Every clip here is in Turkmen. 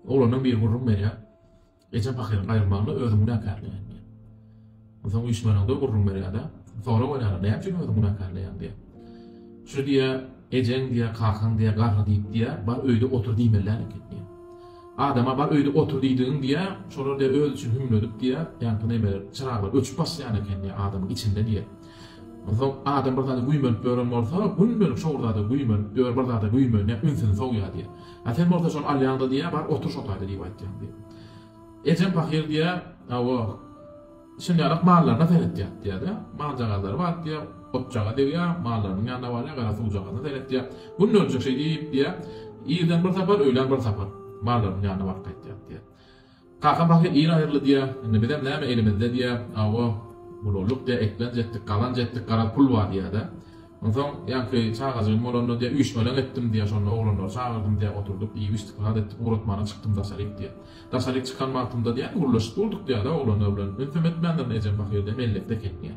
Oglandan biri gürrüň berýär. Ejem pahyryň aýrylmagyna özüň günäkärleýän diýip. Onsoň üýşmänagda gürrüň berýär-de, sorag berýär, näme üçin özüň günäkärleýäň diýip. Şu diýýär, ejeň diýýär, kakaň diýýär, garry diýip diýýär, bar öýde otur diýmelän eken diýýär. Adama bar öýde otur diýdigiň diýýär, şolar diýýär öz üçin hümledip diýýär, ýaňky nemeler, çyraglar öçüp başlaýan eken diýýär adamyň içinde diýýär. Onsoň adam bir zada güýmenip ýören bolsa, gündelik şo bir zada güýmenip ýör, bir zada güýmenýär, ünsüni sowýar diýýär. A sen bolsa şony alýaň-da diýýär, Bar, otur şo taýda diýip aýtýaň diýýär. Ejem pahyr diýýär, Hawa, şindälak mallaryna seretýär diýýär-de, maljagazlary bar diýýär, otjaga degýär, mallarynyň ýanyna barýar, garasuwjagazyna seretýär. Gün öljek şeýdip diýýär, irden bir sapar, öýlän bir sapar mallarynyň ýanyna baryp gaýtýar diýýär. Kaka baky ir aýyrly diýýä, indi bizem näme elimizde diýýä, awa, bulurlyk diýýä, eklenç etdik, gazanç etdik, garaz pul bar diýýä-de. Onsoň ýaňky çagajygym bolanda diýýä, üýşmeleň etdim diýýä, şonda oglanlary çagyrdym diýýä, oturdyk, iýip-içdik, zat etdik, ugratmana çykdym daşaryk diýýä. Daşaryk çykan wagtymda diýýä, gürleşip durduk diýýä-de oglanlar bilen, ünsem etmändirin, ejem pahyr diýýä, mellekde eken diýýä.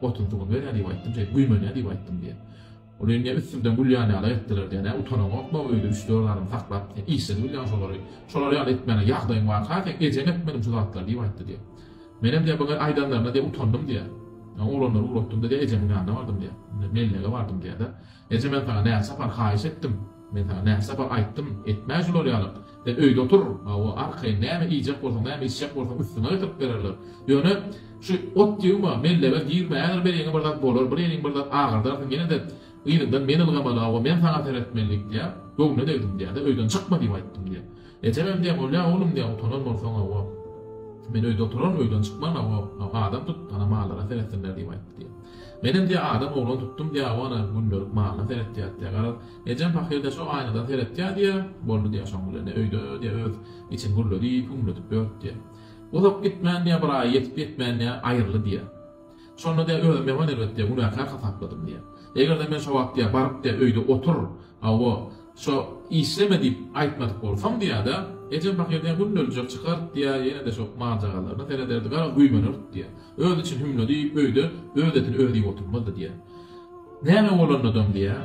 Gotuny-suwuny ber-ä diýip aýtdym, şeýdip güýmen-ä diýip aýtdym diýýär. Ol indi üstümden gülýän ýaly etdiler diýýär. Nä utanaňokmy öýde üç-dört adam saklap, sen işsiz bilýäň şolary. Şolar ýaly etmäne ýagdaýyň barka, seň ejeň etmedimi şu zatlary diýip aýtdy diýýär. Menem diýýär, bu aýdanlaryna diýýär utandym diýýär. Soň oglanlary ugratdym-da diýýär, ejemiň ýanyna bardym diýýär. Mellege bardym diýýär-de. Eje men saňa näçe sapar haýyş etdim. Men saňa nähsaba aýtdym, etme şular ýalyk. Sen öýde otur, hawa, arkaýyn, näme iýjek bolsaň, näme içjek bolsaň, üstüňe getirip bererler. Ýöne, şu ot ýygma, mellebe girme, häzir beliňe bir zat bolar, bir eliň bir zat agyrdarsyň, ýene-de yzyňdan men ylgamaly, hawa, men saňa seretmelidik diýýär. Göwnüne degdim diýýär-de, öýden çykma diýip aýtdym diýýär. Ejeňem diýen bolýa oglum diýen utanar bolsaň hawa. Men öýde oturar öýden çykman hawa adam tut ana mallara seretsinler diýip aýtdy diýýä. Menem diýýä adam oglan tutdum diýýä hawa ana gündelik malyna seretýäs diýýä garaz ejem pahyr diýýä şo aýnadan seretýä diýýä boldy diýýä şoň bilen ne öýde diýýä öz içini gürledi hümledip ýörüp diýýä. Uzak gitmän diýýä bir aýa ýetip ýetmän diýýä aýyrly diýýä. Şonda de özümi ýaman elbetde günäkär hasapladym diýýär. Eger-de men şo wagt diýýär baryp de öýde otur, hawa, şo işleme diýip aýtmadyk bolsam diýýär-de, ejem pahyryň günde öljek çykar diýýär, ýene-de şo mal-jagazlaryna serederdi, gara güýmenerdik diýýär. Özi üçin hümle diýip öýde öz etini özi iýip oturmazdy diýýär. Näme bolanydam diýýär.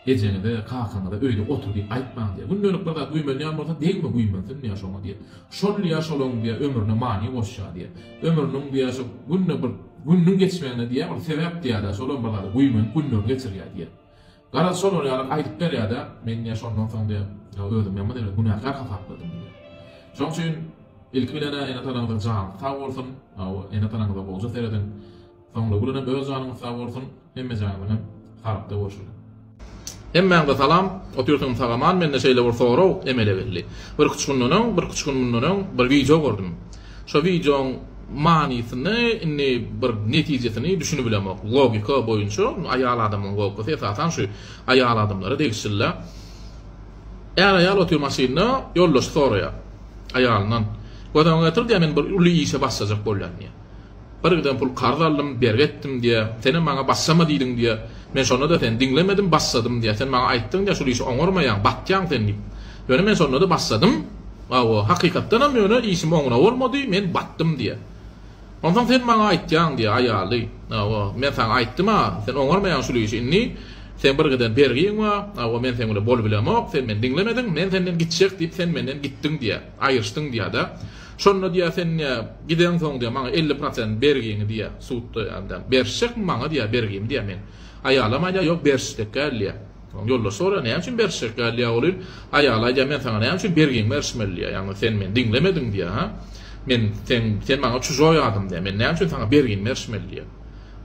Ejeňize, kakaňyza öýde otur diýip aýtmaň diýýär. Gündelik bir zat güýmenýän bolsa, degme güýmensin diýýär şoňa diýýär. Şol diýýär, şolaň diýýär, ömrüne many goşýar diýýär. Ömrüniň diýýär, şo günde bir gününiň geçmegine diýýär, ol sebäp diýýär-de, şolam bir zada güýmenip günlerini geçirýär diýýär. Garaz, şolar ýaly aýdyp berýär-de, men diýýär, şondan soň diýýär, özümi ýaman derejede günäkär hasapladym diýýär. Şoň üçin ilki bilen-ä ene-tanaňyzyň jany sag bolsun, hawa, ene-tanaňyza bolja serediň. Soňra Gülünem öz janyňyz sag bolsun hemme janyňyzam sagakda bolşun. Hemmäňize salam, otyrsyňyz sagaman mende şeýle bir sorag emele geldi. Birki üç günden öň, birki üç gün mundan öň bir wideo gördüm. Şo wideoň manysyny indi bir netijesini düşünibilemok. Logika boýunça aýal adamyň logikasy esasan şu aýal adamlara degişilidä. Är aýal otyr maşynda ýoldaşy soraýar aýalyndan. Göz öňüňe getir diýýär men bir uly işe başlajak bolýan diýýär. Bir giden pul karz aldym, bergi etdim diýýä. Senem maňa başlama diýdiň diýýä. Men şonda-da seni diňlemedim, başladym diýýä. Sen maňa aýtdyň diýýä, şul işi oňarmaýaň, batýaň sen diýip. Ýöne men şonda-da başladym. Hawa, hakykatdanam ýöne işim oňuna bolmady, men batdym diýýä. Onsoň sen maňa aýtýaň diýýä, aýaly. Hawa, men saňa aýtdym-a, sen oňarmaýaň şul işi. Indi seň bir giden bergiň bar. Hawa, men seň bilen bolup bilemok, sen meni diňlemediň, men senden gitjek diýip, sen menden gitdiň diýýä. Aýryşdyň diýýä-de. Şonda diýýär, sen diýýär, gideňsoň diýýär, maňa elli prosent bergiňi diýýär, sudda ýa-da berişjekmi maňa diýýär bergimi diýýär, men. Aýalam aýdýar, ýok berişjek däl diýýär. Soň ýoldaş soraýar, näme üçin berişjek däl diýýär oglym. Aýaly aýdýar, men saňa näme üçin bergiňi berişmeli diýýär, ýagny sen meni diňlemediň diýýär, ha. Men sen sen maňa çujoý adam diýýär, men näme üçin saňa bergimi berişmeli diýýär.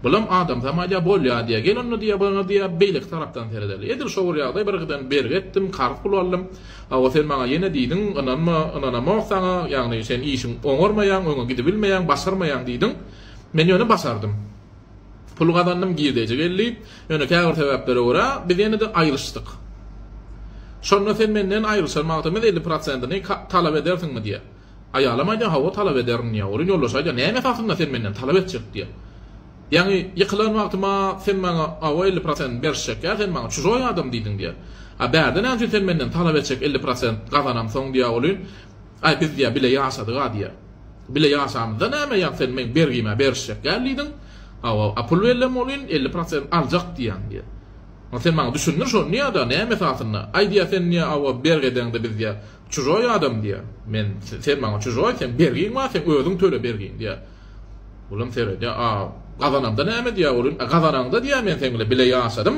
Bulam adamsam aýdýar, bolýar diýýär, gel onda diýýär, maňa diýýär beýleki tarapdan seredeli. Edil şo bir ýagdaý, bir gyzdan bergi etdim, karz pul aldym. Hawa sen maňa ýene diýdiň, ynanma, ynanamok saňa, ýagny sen işiň oňarmaýaň, öňe gidibilmeýäň, başarmaýaň diýdiň. Men ýöne başardym. Pul gazandym, girdeji geldi. Ýöne käbir sebäplere görä, biz ýene-de aýryşdyk. Şonda sen menden aýryşan wagtymyz elli prosentini talap edersiňmi diýýär. Aýalam aýdýar, Hawa, talap ederin diýýär. Welin ýoldaş aýdýar, Näme esasynda sen menden talap etjek diýýär. Ýagny, ýykylan wagtyma sen maňa awa elli prosent berişjek ýa sen maňa çujoý adam diýdiň diýýär. A bärde näme üçin sen menden talap etjek elli prosent gazanamsoň diýýär olin. Aý biz diýýär bile ýaşadyga diýýär. Bile ýaşamyzda näme ýa sen meň bergime berişjek däl diýdiň. Hawa, a pul bellem olin elli prosent aljak diýýän diýýär. Onda sen maňa düşündir şony diýýär-de näme esasynda. Aý diýýär sen diýýär awa bergi edeňde biz diýýär Çujoý adam diýýär. Men, Sen maňa çujoý, seň bergiň bar, seň özüň töle bergini diýýär. Olam seredýär, A gazanamda näme diýýär, ol hem, A gazanaňda diýýär, men seň bilen bile ýaşadym.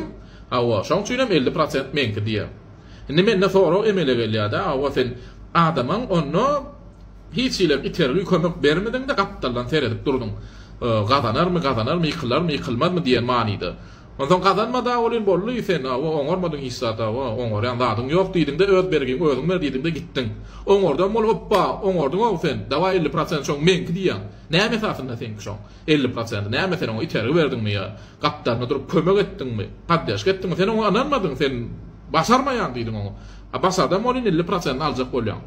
Hawa, şoň üçin hem elli prosent meňki diýýär. Indi mende sorag emele gelýär-dä, Hawa, sen adamyň onda hiç hili itergi, kömek bermediň-de, gapdaldan seredip durduň. Gazanarmy, gazanarmy, ýykylarmy, ýykylmazmy diýen manyda. Onsoň gazanma-da welin, boldy, sen, hawa, oňarmadyň hiç zat, hawa, oňarýan zadyň ýok diýdiň-de, öz bergiňi özüň ber diýdiň-de gitdiň. Oňardan bol, hopba, oňardyň-ow sen, dawaý elli prosent şoň meňki diýýäň. Näme esasynda seňki şoň elli prosenti, näme sen oňa itergi berdiňmi ýa gapdalynda durup kömek etdiňmi, poddežka etdiňmi, sen oňa ynanmadyň, sen başarmaýaň diýdiň oňa. A başardan welin elli prosentini aljak bolýaň.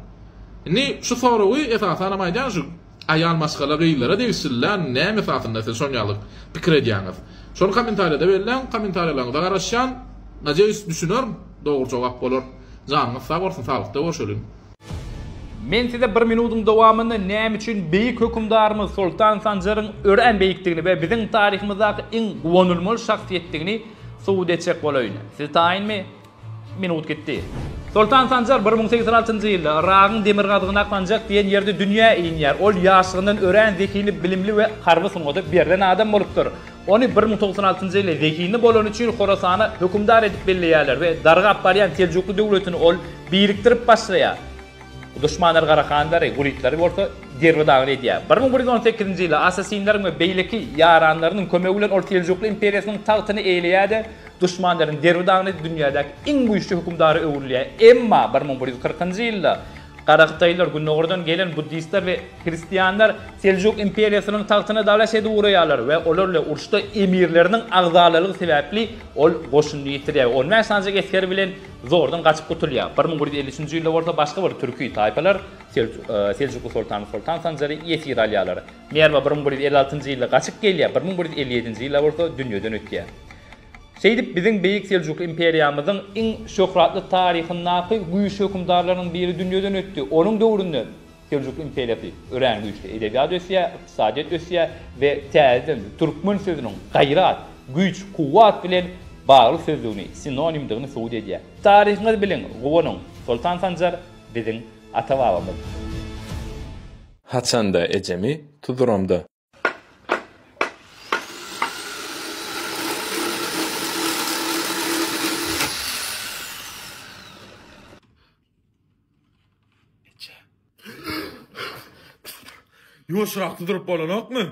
Indi şu soragy esasanam aýdýan şu Aýal maşgala gyzlara degişilýän näme esasynda siz şon ýaly pikir edýäňiz? Şony komentariýada belläň komentariýalaryňyza garaşýan najeýis düşüner dogry jogap bolar janyňyz sag bolsun saglykda görşeliň. Men size bir minudyň dowamynda näme üçin beýik hökümdarymyz Soltan Sanjaryň örän beýikdigini we biziň taryhymyzdaky iň guwanylmaly şahsyýetdigini subut etjek bolaýyn. Siz taýynmy? Minut gitdi. Soltan Sanjar bir müň sekiz ýüz altynjy ýylda Yragyň demirgazygyny aklanjak diýen ýerde dünýä inýär. Ol ýaşlygyndan örän zehinli, bilimli we harby sungata berlen adam bolupdyr. Ony bir müň dokuz ýüz on altynjy ýyly zehinli bolany üçin Horasana hökümdar edip belleýärler we dargap barýan seljukly döwletini ol birikdirip başlaýar. Duşmanlary Garahanlary, Gulitlary bolsa derbi-dagyn edýär. Bir müň bir ýüz on sekizinji ýylda asasinleriň we beýleki ýaranlarynyň kömegi bilen ol seljukly imperiýasynyň tagtyny eýeleýär-de, Duşmanlaryň derbi dagyny dünýädäki iň güýçli hökümdara öwrülýär. Emma bir müň bir ýüz kyrkynjy ýylda garahytaýlar, gündogardan gelen buddistler we hristianlar Seljuk imperiýasynyň tagtyna dalaş edip ugraýarlar we olar bilen uruşda emirleriniň agzalalygy sebäpli ol goşunyny ýitirýär we on bäş sanjak esgeri bilen zordan gaçyp gutulýar. Bir müň bir ýüz elli üçünji ýylda bolsa başga bir türki taýpalar seljukly soltany Soltan Sanjary ýesir alýarlar. Merwa bir müň bir ýüz elli altynjy ýylda gaçyp gelýär, bir müň bir ýüz elli ýedinji ýylda bolsa dünýeden ötýär. Şeýdip, biziň Beýik Seljukly imperiýamyzyň iň şöhratly taryhyndaky güýçli hökümdarlarynyň biri dünýeden ötdi. Onuň döwründe Seljukly imperiýasy örän güýçli, edebiýat ösýär, ykdysadyýet ösýär we täzeden türkmen sözüniň gaýrat, güýç, kuwwat bilen bagly sözlügini, sinonimdigini subut edýär. Taryhyňyzy biliň, guwanyň! Soltan Sanjar biziň ata-babamyz. Haçanda ejemi tuzuramda. Eje. Ýuwaşrak tuzuryp bolanokmy?